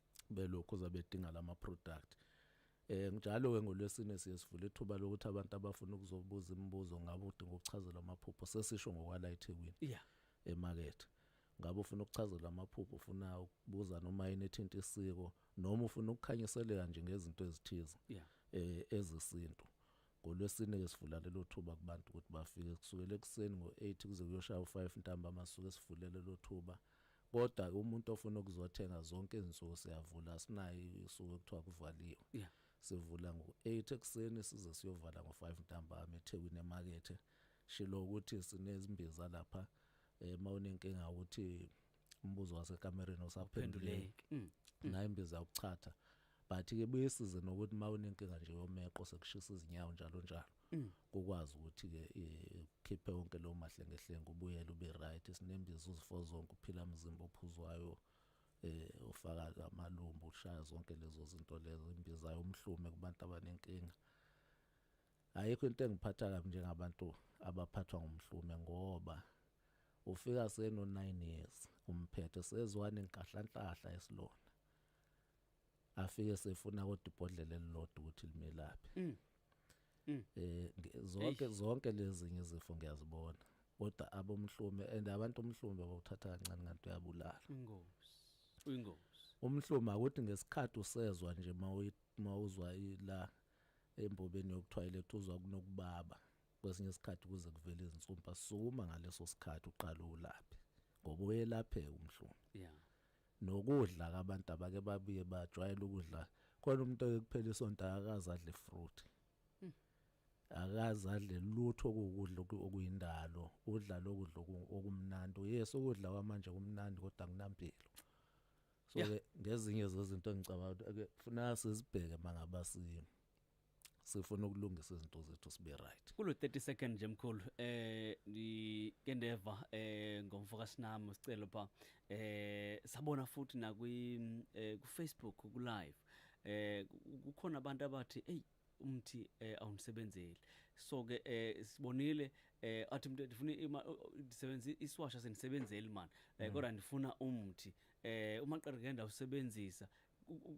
belokhu zabedinga lama product eh njalo ke ngolwesine siye sivula ithuba lokuthi abantu abafuna ukuzobuza imibuzo ngabe udinga ukuchazela amaphupho sesisho ngokwala eThekwini yeah emakethe ngabe ufuna ukuchazela amaphupho ufuna ukubuza noma yini ethinta isiko noma ufuna ukukhanyiseleka nje ngezinto ezithize yeah. eh ezesintu ngolwesine ke sivula lelo thuba kubantu ukuthi bafike kusukela ekuseni ngo8 kuze kuyoshaya u5 ntamba amasuke sivulele lo thuba Kodwa ke umuntu ofuna ukuzothenga zonke izinsuku siyavula sinayo isuku ekuthiwa kuvaliwe. Yeah. Sivula ngo-8 ekuseni size siyovala ngo-5 ntambama eThekwini emakethe. Shilo ukuthi sinezimbiza lapha eh mawunenkinga ukuthi umbuzo wasekamereni usaphenduleki. Mm. Nayo imbiza yokuchatha. Mm. but ke buyisize nokuthi uma unenkinga nje yomeqo sekushisa izinyawo njalo njalo mm. kukwazi ukuthi ke eh, ukhiphe wonke lo mahlengehlenga ubuyele ube right sinembiza uzifo zonke uphila umzimba ophuzwayo eh ufaka amalumbu ushaya zonke lezo zinto lezo imbiza yomhlume kubantu abanenkinga ayikho into engiphatha kabi njengabantu abaphathwa ngumhlume ngoba ufika seno 9 years umphethe sezwane inkahlahlanhla esilona afike sefuna kodwa ibhodlela elilodwa ukuthi limelaphe mm. mm. eh zonke zonke lezi ngizifo ngiyazibona kodwa abomhlume and abantu omhlume bawuthatha kancane kanti uyabulala ingozi ingozi umhlume akuthi ngesikhathi usezwa nje mawuzwa ila embobeni yokuthwayiletha uzwa kunokubaba kwesinye isikhathi kuze kuvele izinsumpa sukuma ngaleso sikhathi uqala ulaphe ngoba uyelapheka umhlume yeah Nokudla ke abantu abake babuye bajwayele ukudla khona umuntu ekuphela isonto akaze adle fruit. Hmm. Akaze adle lutho okukudla okuyindalo, udla lokudla okumnandi. Yes ukudla kwamanje kumnandi kodwa kunampilo. So ke ngezinye zezinto engicabanga ukuthi ake funa sizibheke mangaba simo. sifuna ukulungisa izinto zethu sibe right kulo 30 second nje mkhulu eh ngike ndeva eh ngomfo kaSinami sicelo pha eh sabona futhi na kwi eh, ku Facebook ku live eh kukhona abantu abathi hey umthi eh, awunisebenzeli so ke eh, sibonile eh, athi umuntu ndifuna ndisebenza isiwasha senisebenzeli man eh, mm. kodwa ndifuna umthi eh, uma qereke ndawusebenzisa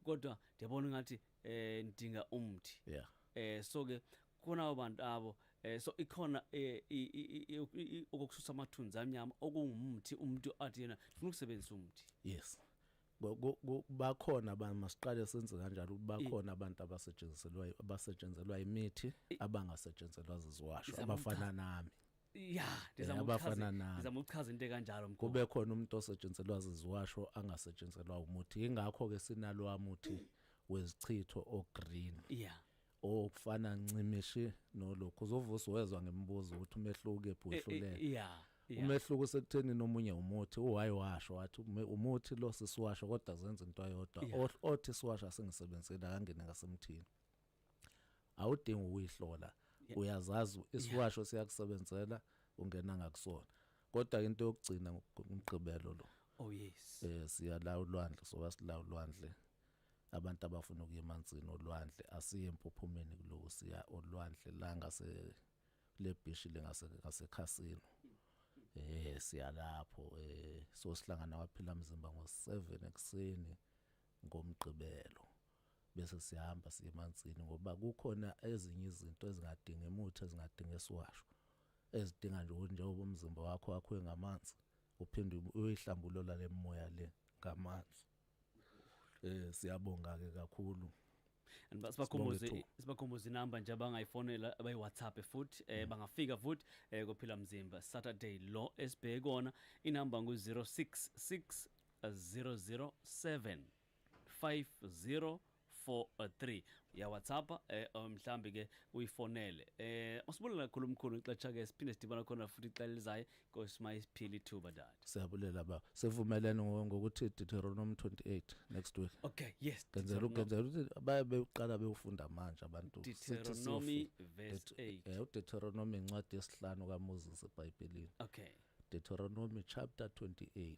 kodwa ndiyabona ngathi eh ndinga umthi yeah eh so ke khona abantu abo eh so ikhona eh, okukususa amathunzi amnyama okungumthi umuntu athi yena ufuna ukusebenzisa umthi yes bakhona abantu masiqale senze kanjalo bakhona abantu abasetshenziselwayo abasetshenzelwa imithi abangasetshenzelwa ziziwasho abafana nami ya ndizama abafana ukuchaza nami. ndizama ukuchaza into ekanjalo mkhulu kube khona umuntu osetshenziselwa ziziwasho angasetshenziselwa umuthi yingakho ke sinalowa muthi wezichitho ogreen yeah okufana ncimishi nolokhu uzovusa wezwa ngemibuzo ukuthi umehluko ephi Eh, eh, wehluleka yeah yeah. umehluko usekutheni nomunye umuthi uhayi washo wathi ume- umuthi lo sisiwasho kodwa zenza into ayodwa Yeah. Oth- othi siwasho asingisebenzeli akangene ngasemthini awudingi ukuyihlola uyazazi isiwasho siyakusebenzela ungena ngakusona kodwa into yokugcina ngomgqibelo lo oh yes eh siyala ulwandle soba sila ulwandle abantu abafuna ukuya emanzini olwandle asiye empuphumeni kuloku siya olwandle la ngase le beach lengase ngase casino eh siyalapho eh so sihlangana waphila mzimba ngo 7 ekseni ngomgqibelo bese siyahamba siye emanzini ngoba kukhona ezinye izinto ezingadingi emuthi ezingadingi esiwasho ezidinga nje ukuthi njengoba umzimba wakho wakhiwe ngamanzi uphinde uyihlambulula le moya le ngamanzi eh siyabonga ke kakhulu sibakhumbuze sibakhumbuze inamba nje abangayifonela abayi-whatsapp futhi um eh, bangafika futhi um eh, kophila mzimba saturday lo esibheke kona inamba ngu-066 007 50 4-3 ya WhatsApp eh um, mhlambi ke uyifonele eh usibulela kakhulu mkhulu ixesha ke siphinde sidibana khona futhi ixela lizayo kosima isiphila ithuba dad siyabulela ba sivumelene ngokuthi Deuteronomy 28 next week okay yes ngenzela ukenzela ukuthi baye beqala bewufunda manje abantu Deuteronomy verse 8 eh uDeuteronomy incwadi yesihlanu kaMoses eBhayibhelini okay Deuteronomy chapter 28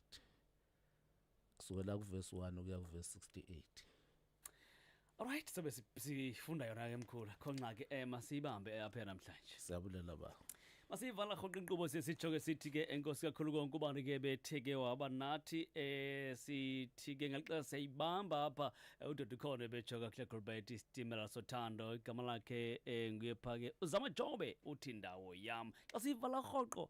kusukela kuvesi 1 ukuya kuvesi 68 Alright sobe si- sifunda yona ke mkhulu khonxa ke eh masiyibambe eh, apha namhlanje siyabulela ba Masiyivala rhoqo inkqubo siye sitsho ke sithi ke enkosi kakhulu konke ubani ke bethe ke waba nathi eh sithi ke ngelixesha siyayibamba apha eh, udoda ukhona ebetsho kakuhle Gilbert isitimela sothando igama lakhe eh nguye pha ke uZama Jobe uthi ndawo yam xa siyivala rhoqo